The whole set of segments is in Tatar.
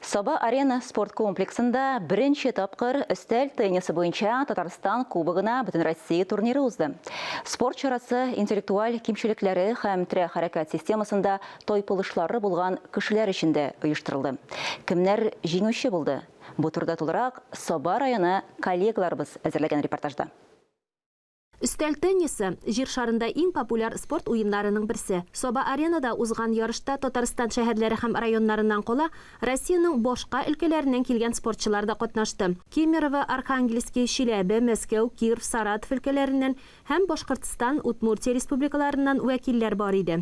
Саба-Арена спорт комплексында беренче тапкыр өстәл теннисы буенча Татарстан Кубогына Бөтенроссия турниры узды. Спорт чарасы интеллектуаль кимчелекләре һәм терә хәрәкәт системасында тайпылышлары булган кешеләр өчен дә оештырылды. Кемнәр җиңүче булды? Бу турыда тулырак Саба районы коллегаларыбыз әзерләгән репортажда. Өстәл теннисы, Җир шарында иң популяр спорт уеннарының берсе. Саба-Аренада узган ярышта Татарстан шәһәрләре һәм районнарыннан кала, Россиянең башка өлкәләреннән килгән спортчылар да катнашты. Кемерово, Архангельски, Чиләбе, Мәскәү, Кирв, Саратов өлкәләреннән һәм Башкортстан, Удмуртия республикаларыннан вәкилләр бар иде.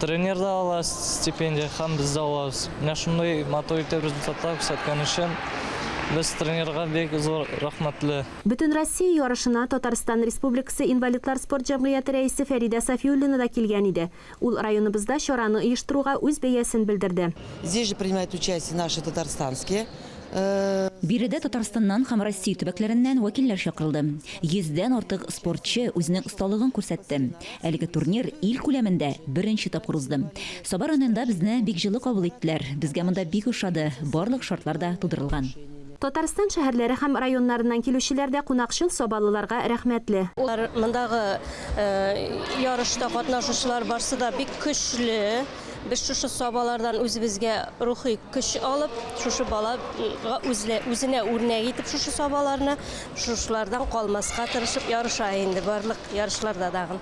Тренер да ала стипендия һәм без дә алабыз. Менә шундый матур итеп результатлар күрсәткән өчен без тренерга бик зур рәхмәтле. Бөтенроссия ярышына Татарстан Республикасы инвалидлар спорт җәмгыяте рәисе Фәридә Сафиуллина да килгән иде. Ул районыбызда чараны оештыруга үз бәясен белдерде. Здесь же принимают участие наши татарстанские. Биредә Татарстаннан һәм Россия төбәкләреннән вәкилләр чакырылды. Йөздән артык спортчы үзенең осталыгын күрсәтте. Әлеге турнир ил күләмендә беренче тапкыр узды. Саба районында безне бик җылы кабул иттеләр. Безгә монда бик ошады, барлык шартлар да тудырылган. Татарстан шәһәрләре һәм районнарыннан килүчеләр дә кунакчыл, сабалыларга рәхмәтле. Алар мондагы ярышта катнашучылар барсы да бик көчле. Без шушы сабалардан үзебезгә рухи көч алып, шушы балага үзле, үзенә үрнәк итеп шушы сабаларны, шушылардан калмаска тырышып ярыша инде барлык ярышларда дагы.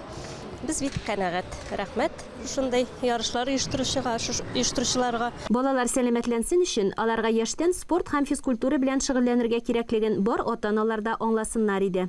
Без бит канәгать. Рәхмәт шушындый ярышлар оештыручыга, оештыручыларга. Балалар сәламәтләнсен өчен, аларга яшьтән спорт һәм физкультура белән шөгыльләнергә кирәклеген бар ата-аналар да аңласыннар иде.